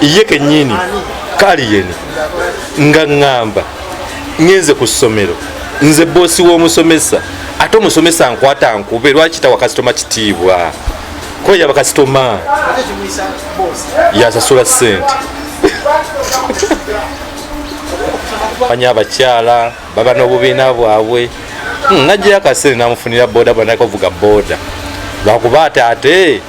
ye kenyini kaliyeni nga ŋŋamba ŋenze ku ssomero nze boosi w'omusomesa ate omusomesa nkwata nkube lwaki tawa kasitoma kitiibwa kuba yaba kasitoma yasasula ssente banya abakyala baba n'obubiina bwabwe hmm, najjayo akasente namufunira boda bwanakavuga boda lwakuba ate ate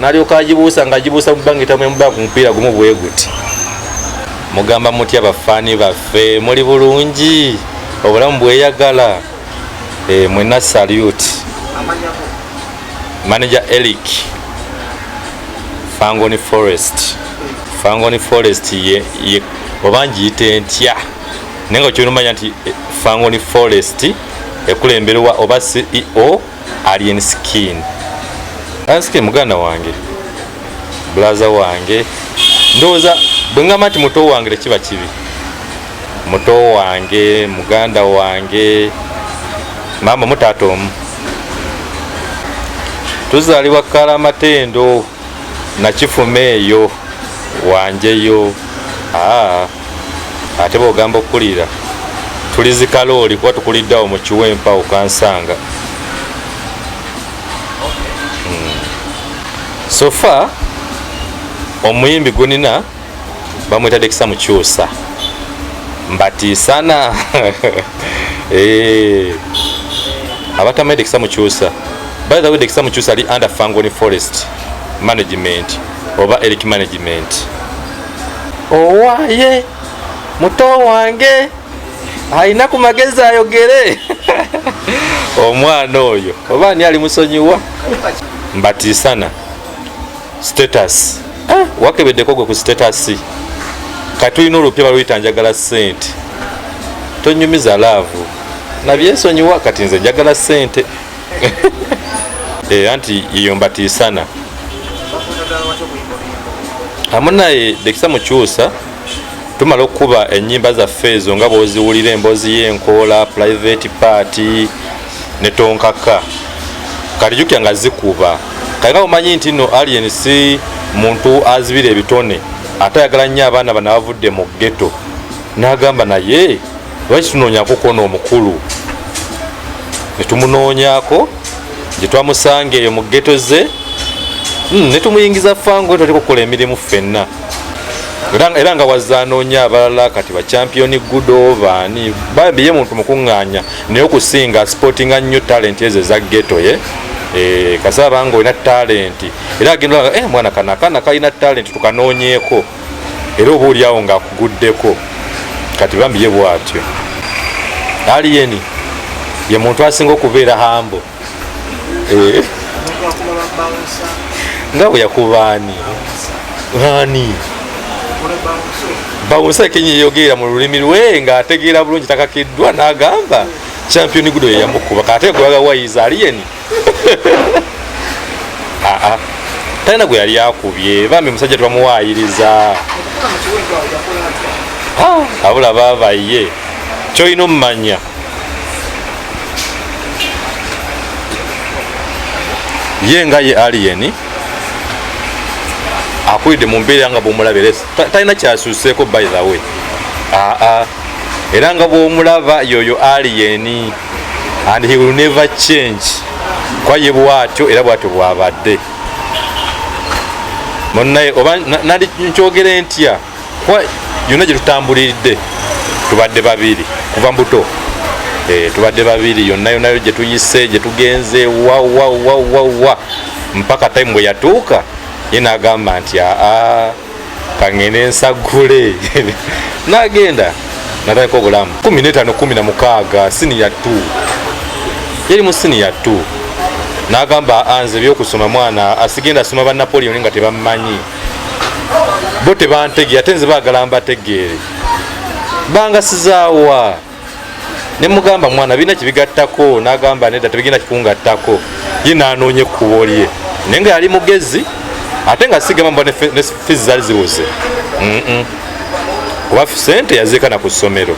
nalyoka agibuusa nga agibuusa mu bbanga etamu emubbanga ku mupiira gumu bwe guti mugamba mutya bafaani baffe muli bulungi obulamu bweyagala eh, mwena salute manager elic fangoni forest fangoni forest ye, ye oba ngiyita entya naye nga kyonumanya nti eh, fangoni forest ekulemberwa oba ceo alien skin asike muganda wange bulaza wange ndowooza bwe ngamba nti muto wange tekiba kibi muto wange muganda wange maama mutaata omu tuzaalibwa kala amatendo nakifuma eyo wanjeyo ah, ate bwogamba okukulira tulizikalooli kuba tukuliddeawo mukiwa empawo kansanga hmm. sofa omuyimbi gunina bamwetadde kisa mukyusa mbatiisana eh. abatamanyi dekisa mukyusa by the way dekisa mukyusa ali under fangoni forest management oba eric management owaye muto wange alina ku magezi ayogere omwana oyo oba ani ali musonyiwa mbatiisana status eh, wakebeddeko gwe ku status kati tulina olupya baluyita njagala sente tonyumiza laavu nabyesonyiwa kati nze njagala sente eh, anti iyo mbatiisana amunaye dekisa mukyusa tumala okukuba enyimba zaffe ezo nga bwoziwulira emboozi yenkoola private party ne tonkaka kati jukira nga zikuba kati nga omanyi nti no alien si muntu azibira ebitone ate ayagala nnyo abaana bana bavudde mu geto nagamba naye lwaki tunoonyako kona omukulu netumunoonyako gyetwamusanga eyo mu geto ze hmm, netumuyingiza fango toleka okukola emirimu ffenna era nga wazanoonya abalala kati bacampiyoni gudo baani babiye muntu mukuŋŋaanya naye okusinga sportinga nnyo talenti ezo eza geto ye eh, kasaba nga olina talenti era agenda eh, mwana kana kana kalina talenti tukanoonyeeko era oba oliawo nga akuguddeko kati bambi ye bwatyo aliyeni ye muntu asinga okubeera hambo eh. nga bwe yakuba ani ani bawunsa kenya eyogeera mu lulimi lwe nga ategeera bulungi takakiddwa n'agamba champion gudo yeyamukuba kate gwaga wayiza aliyeni aa talina gwe yali akubye bambi musajja tebamuwayiriza abula babaye kyolina omumanya ye nga ye aliyeni akulidde mu mbeera nga bwomulabire talina kyasuuseeko by the way aa era nga bwomulaba yoyo aliyeni and he will never change kwa ye bwatyo era bwatyo bwabadde munaye oba nandi nkyogere ntya kuba yonna gye tutambuliridde tubadde babiri kuva mbuto eh, tubadde babiri yonna yonayo gye tuyise gye tugenze wawawawawa mpaka time bwe yatuuka ye nagamba nti aa kangende nsagule nagenda natandika obulamu 1516 siniya 2 yali mu siniya 2 nagamba anze byokusoma mwana asigenda asoma ba napoleon nga tebammanyi bo tebantegeera ate nze baagala mbategeere bangasizaawa ne mugamba mwana birina kibigattako nagamba nedda tebigenda kikungattako ye nanoonye ekkubo lye naye nga yali mugezi ate nga sigamba ne fizi zali ziwuze kuba sente yaziikana ku ssomero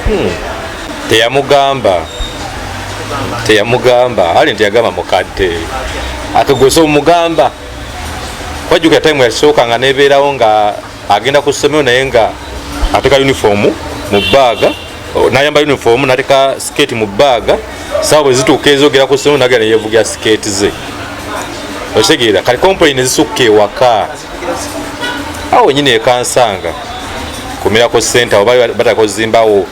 hmm. teyamugamba teyamugamba ali nti yagamba mukadde ate gwesa omugamba wajjukira time yasooka nga nebeerawo nga agenda ku ssomero naye nga ateka uniform mu baaga nayamba uniform nateka skate mu baaga sawa bwe zituuka ezogera ku ssomero nagenda neyevugira skate ze okitegeera kati complain ezisukka ewaka awo wenyini ekansanga kumirako sente abo bataka ozimbawo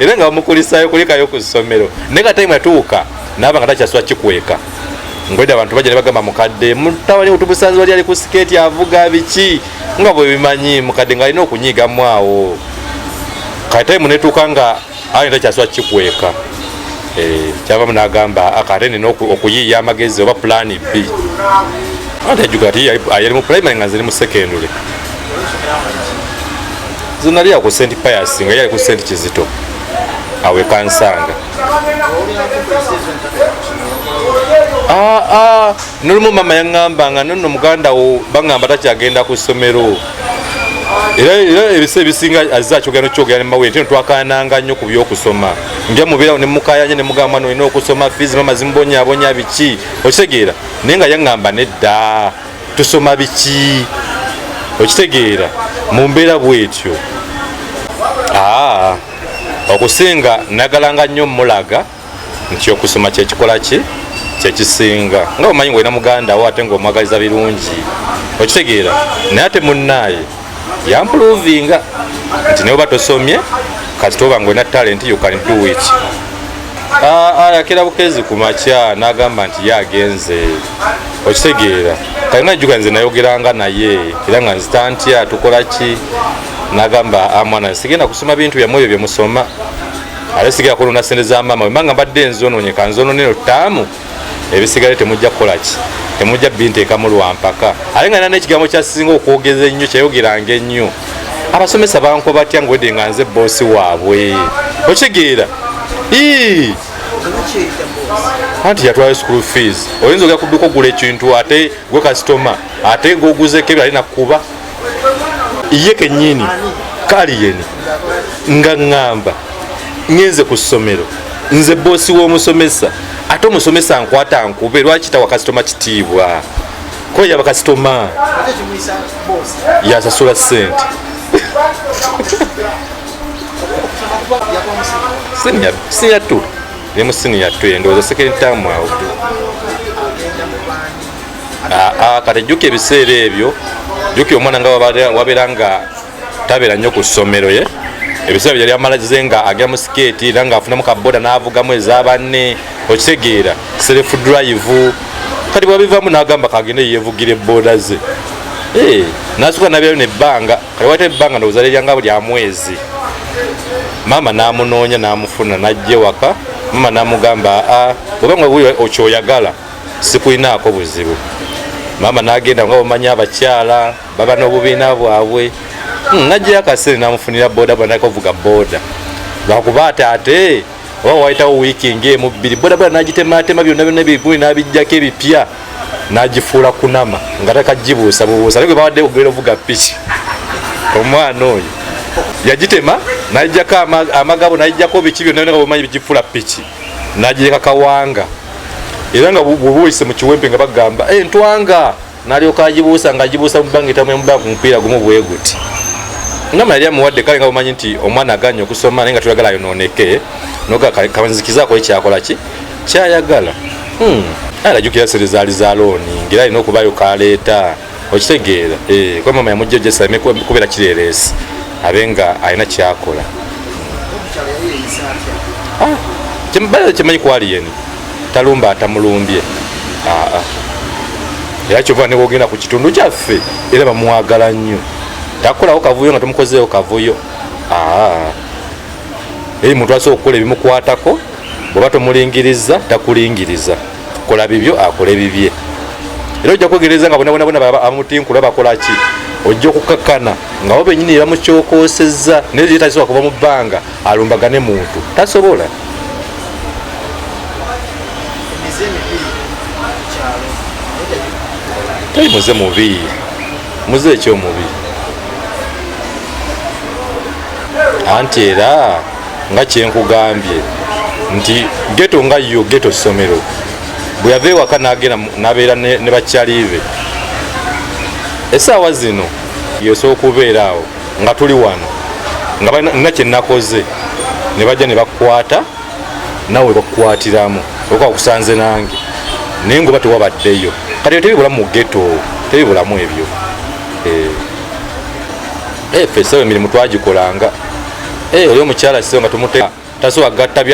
era nga bamukulisayo kulikayo ku ssomero naye nga time yatuuka naaba nga takyasula kikweka ngweda abantu bajja nebagamba mukadde mutawali utubusanzi wali ali ku sikeeti avuga biki nga bwebimanyi mukadde nga alina okunyigamu awo katayimu netuuka nga ani takyasula kikweka eh, kyavamu nagamba akate ah, nina okuyiiya amagezi oba pulani b anti ajuga ati yali mu primary nga nziri mu secondary zinali ako senti payasi nga yali ku senti kizito awe kansanga ah, ah, nolumu mama yaŋamba nga nono muganda wo baŋamba takyagenda ku ssomero era ebisa ebisinga azze akyogera nokyogera nemawere tino twakananga nnyo ku byokusoma nja mubeerawo nemukayanya nemugamba nolina okusoma fiizi mama zimubonyabonya biki okitegeera naye nga yaŋamba nedda tusoma biki okitegeera mu mbeera bwetyo okusinga nagalanga nnyo mulaga nti okusoma kyekikola ki kyekisinga nga omanyi ngaolina muganda wo ate ngaomwagaliza birungi okitegeera naye ate munaaye yampuluvinga nti neoba tosomye kasita oba ngolina talenti you can do it ayakira ah, ah, bukezi ku makya n'agamba nti ye agenze okitegeera kati najjuka nze nayogeranga naye era nga nzita ntya tukola ki nagamba amwana ah, sigenda kusoma bintu byamwe ebyo byemusoma ate sigenda kulonda sente za maama wembanga mbadde nzononyeka nzononero taamu ebisigale temujja kukolaki temujja binteekamu lwampaka ate nga nana ekigambo kyasinga okwogeza ennyo kyayogeranga ennyo abasomesa bankuba batya ngwedde nga nze boosi waabwe okitegeera anti yatwala school fees oyinza ogera kudduka ogula ekintu ate gwe kasitoma ate goguzeko ebyo ali nakukuba ye kenyini kaliyeni nga ŋŋamba ŋenze ku ssomero nze boosi w'omusomesa ate omusomesa nkwata nkube lwaki tawa kasitoma kitiibwa kweya bakasitoma yasasula sente siniyatu nemusiniya tu endowooza sekendi tamu awo Ah, ah, kati jjuka ebiseera ebyo jjuki omwana nga wabeera nga tabeera nnyo ku ssomero ye ebiseera byo yali amalaze nga agera mu sikeeti era nga afunamu kaboda n'avugamu eza banne okitegeera self drive kati bwabivamu n'agamba kagende yevugira ebooda ze eh, nasuka nabyalo nebbanga kati wata ebbanga ndowooza lyanga lya mwezi maama n'amunoonya n'amufuna n'ajja ewaka maama n'amugamba aa ah, obanga okyoyagala sikulinaako buzibu maama nagenda nga bamanya abakyala baba n'obubiina bwabwe hmm, najjayo akasente namufunira boda banakovuga boda lwakuba ati ate oba wayitawo wiiki ngaemu bbiri boda boda nagitematema byonna byonna ebigumi nabijjako ebipya nagifuula kunama nga takagibuusa bubuusa naye gwe bawadde ogenda ovuga piki omwana oyo yagitema nayijjako amagabo nayijjako biki byonna byonna nga bamanyi bigifuula piki nagireka kawanga era nga bwobuyise mu kiwempe nga bagamba eh, ntwanga nalyoka agibuusa nga agibuusa mu bbanga etamu emuba ku mupiira gumu bweguti ngama yali amuwadde kale nga bumanyi nti omwana aganya okusoma naye nga tuyagala ayonooneke nogakanzikizaako ekyakola ki kyayagala hmm. alajukira sere zaali za looni ngaera alina okubayo kaleeta okitegeera eh, kuba mama yamujja jesa aleme kubeera kireereesi abe nga alina kyakola ah, kyemubala kyemanyi kwaliyeni talumba atamulumbye ah, ah. era kyova newogenda ku kitundu kyaffe era bamwagala nnyo takolawo kavuyo nga tomukozeewo kavuyo eri muntu asobola okukola ebimukwatako bweba tomulingiriza takulingiriza kola bibyo akole bibye era ojja kwegereza nga bonabonabona bamutinkula bakolaki ojja okukakkana nga bo benyini ebamukyokosezza naye ye tasobola kuva mu bbanga alumbagane muntu tasobola tali muze mubi muze ekyomubi anti era nga kyenkugambye nti geto nga yo geto ssomero bwe yava ewaka nagenda nabeera ne bakyaliibe esaawa zino yosooka okubeera awo nga tuli wano nga balina kyenakoze ne bajja ne bakukwata nawe bakukwatiramu okuba kusanze nange naye ngoba tewabaddeyo kati yo tebibulamu mu geto tebibulamu ebyo eh. efe eh, esawa emirimu twagikolanga Eh, oyo omukyala kiseera nga tumute tasobola gatta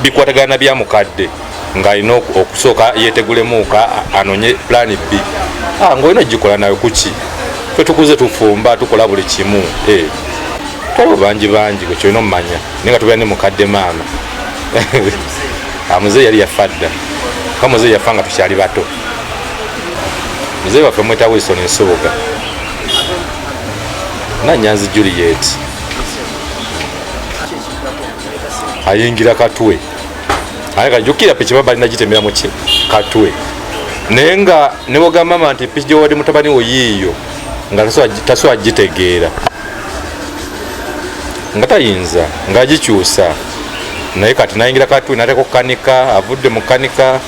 bikwatagana bya mukadde ng'alina okusooka yeetegulemuuka anonye pulaani bbi ah, ng'olina ogikola nawe kuki fe tukuze tufumba tukola buli kimu eh, twaliwo bangi bangi gwe kyolina omumanya naye nga tubeera ne mukadde maama amuze ah, yali yafa dda ka muze yafa nga tukyali bato muze waffe mwetawo isoni nsubuga nanyanzi juliet ayingira katwe aye kajukira piki baba alina gitemera muki katwe naye nga newogamba mama nti piki gyewade mutabani wo yiiyo nga tasobola gitegeera nga tayinza nga agikyusa naye kati nayingira katwe nateka okukanika avudde mukanika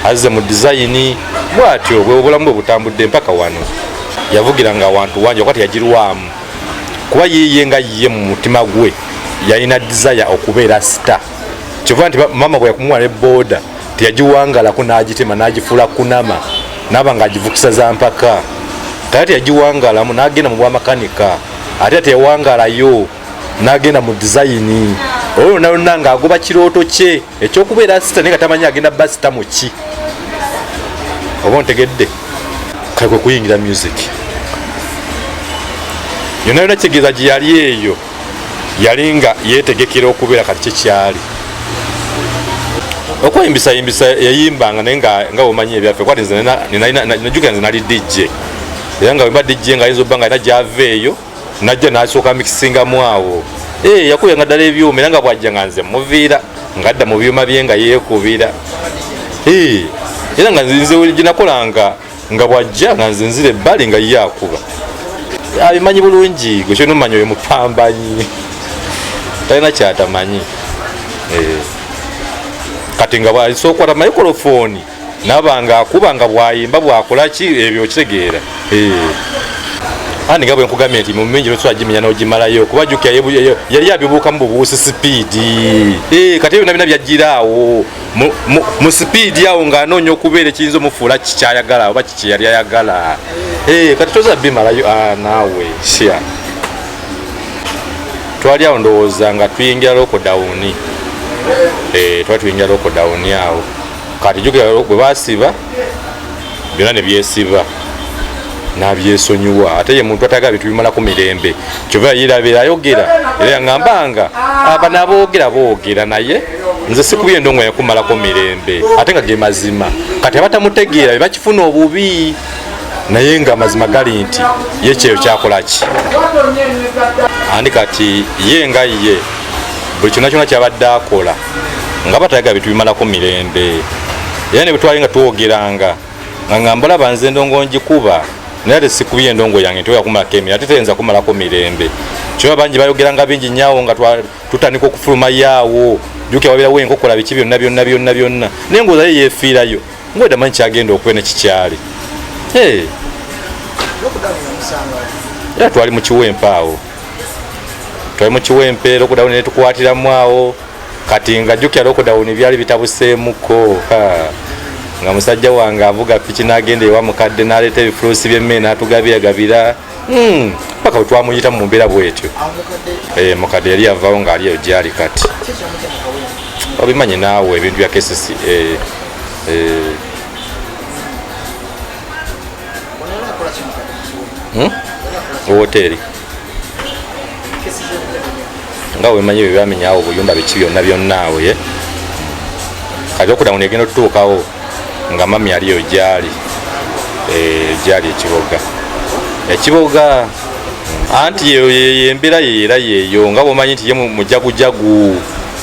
azze mu dizayini bwatyo bwe obulamu bwe butambudde mpaka wano yavugira nga wantu wangi okwati yagirwamu kuba yiye nga yiye mu mutima gwe yalina desire okubeera star kyova nti mama bwe yakumuwa ne boda teyagiwangalako n'agitema n'agifuula kunama naaba nga agivukisa za mpaka tata teyagiwangalamu n'agenda mu bwamakanika ate teyawangalayo n'agenda mu dizayini olwo nalonna ng'agoba kirooto kye ekyokubeera sita naye nga tamanyi agenda ba sita muki oba ontegedde kale kwe kuyingira music yona yona kitegeeza gye yali eyo yali nga yetegekera okubeera kati kyekyali okweyimbisaymbisa yayimbanga naye nga omanyi ebyaffe kwati nze najukira nze nali dijje era nga wemba dijje nga ayinza obba nga alina gyava eyo najja nasooka mikisingamu awo eh, yakuyanga ddala ebyuma era nga bwajja nga nze muviira ngadda mu byuma bye nga yeekubira eh, era nga nze gyenakolanga nga bwajja nga nze nzira ebbali nga ye akuba abimanyi bulungi gwekyonomanya oyo mupambanyi talina kyatamanyi eh, kati nga bwasookwata mayikolofoni naba nga akuba nga bwayimba bwakola ki ebyo okitegeera eh. ani nga bwenkugambye nti mumingi nosobola gimenya nogimalayo kuba juka yali abibuukamu bubuusi sipiidi eh, kati ebyo nabina byajjira awo mu sipiidi awo nga anoonya okubeera ekiyinza omufuula kikyayagala oba kikyeyali ayagala eh, kati toza bimalayo ah, naawe sya twali awo ndowooza nga tuyingira lokodawuni twali tuyingira lokodawuni awo kati jukira bwe basiba byonna ne byesiba nabyesonyiwa ate ye muntu atagala bintu bimalako mirembe kyova yirabira ayogera era yaŋamba nga aba naboogera boogera naye nze sikubi endongo yakumalako mirembe ate nga ge mazima kati abatamutegeera bebakifuna obubi naye nga amazima gali nti ye kyeyo kyakolaki andi kati ye nga ye buli kyona kyona kyabadde akola nga batayagala bitubimalako mirembe era ne bwetwali nga twogeranga nga ngamba laba nze endongo ngikuba naye ate sikubye endongo yange nti oyakumalako emira ate teyinza kumalako mirembe kyoba bangi bayogeranga bingi nyawo nga tutandika okufuluma yaawo juka wabirawo enkokola biki byonna byonna byonna byonna naye ngaozayo yefiirayo ngweda manyi kyagenda okwe nekikyali era twali mukiwempa awo twali mu kiwempe lockdown ne tukwatiramu awo kati nga jjukira lockdown byali bitabuseemuko nga musajja wange avuga piki n'agenda ewa mukadde n'aleeta ebifuluusi by'emmere n'atugabiragabira hmm, paka bwe twamuyita mu mbeera bwetyo eh, mukadde yali yavawo ng'ali eyo gyali kati obimanyi naawe ebintu bya kcca eh, eh. hmm? woteeri nga wemanyi ebyo byamenyawo obuyumba biki byonna byonna awo ye kati okuda muno egenda otutuukawo nga mami aliyo gyali eh, gyali ekiboga ekiboga anti yembeera yeera yeeyo nga bwomanyi nti ye mujagujagu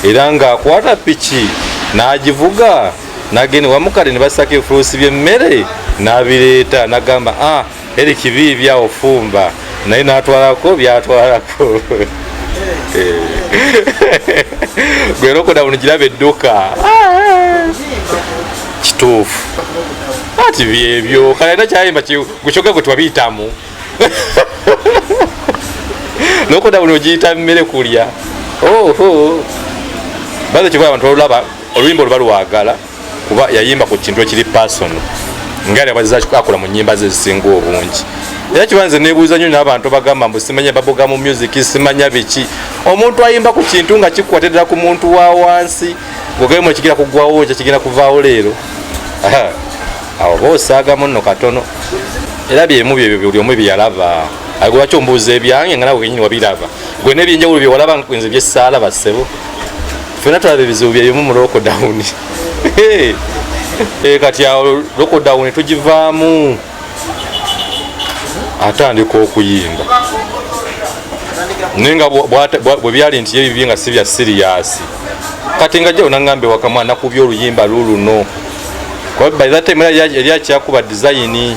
era ngaakwata piki n'agivuga nagenda wamu kale ne basako ebifuusi by'emmere n'abireeta nagamba a ah, eri kibi byawo fumba naye n'atwalako byatwalako eh. gwe nokoda buno kiraba edduka ah. kituufu ati byebyo kale era kyayimba gukyoka gwe twabiyitamu nokoda buno ogiyita mmere kulya oho baze kyoba abantu balulaba oluyimba oluba lwagala kuba yayimba ku kintu ekiri pasono nga lyabazza akola mu nyimba ze zisinga obungi era kiba nze nebuuza nyo nabantu bagamba mbu simanya babuga mu music simanya biki omuntu ayimba ku kintu nga kikukwatidira ku muntu wa wansi gogemu ekigenda kugwawo ekyo kigenda kuvaawo leero awo oba osaagamu nno katono era byemu byebyo buli omu byeyalaba ago lwaki ombuuza ebyange nga nawe kenyini wabiraba gwe nebyenjawulo byewalaba nze byesaalaba ssebo fena tulaba ebizibu byeyomu mu lockdown eh, kati awo lockdown tugivaamu atandika okuyimba naye nga bwe byali nti yebibye nga si bya siriyasi kati nga jjawo naŋambe wakamwa nakubya oluyimba luluno kuba by that time yali akyakuba dizayini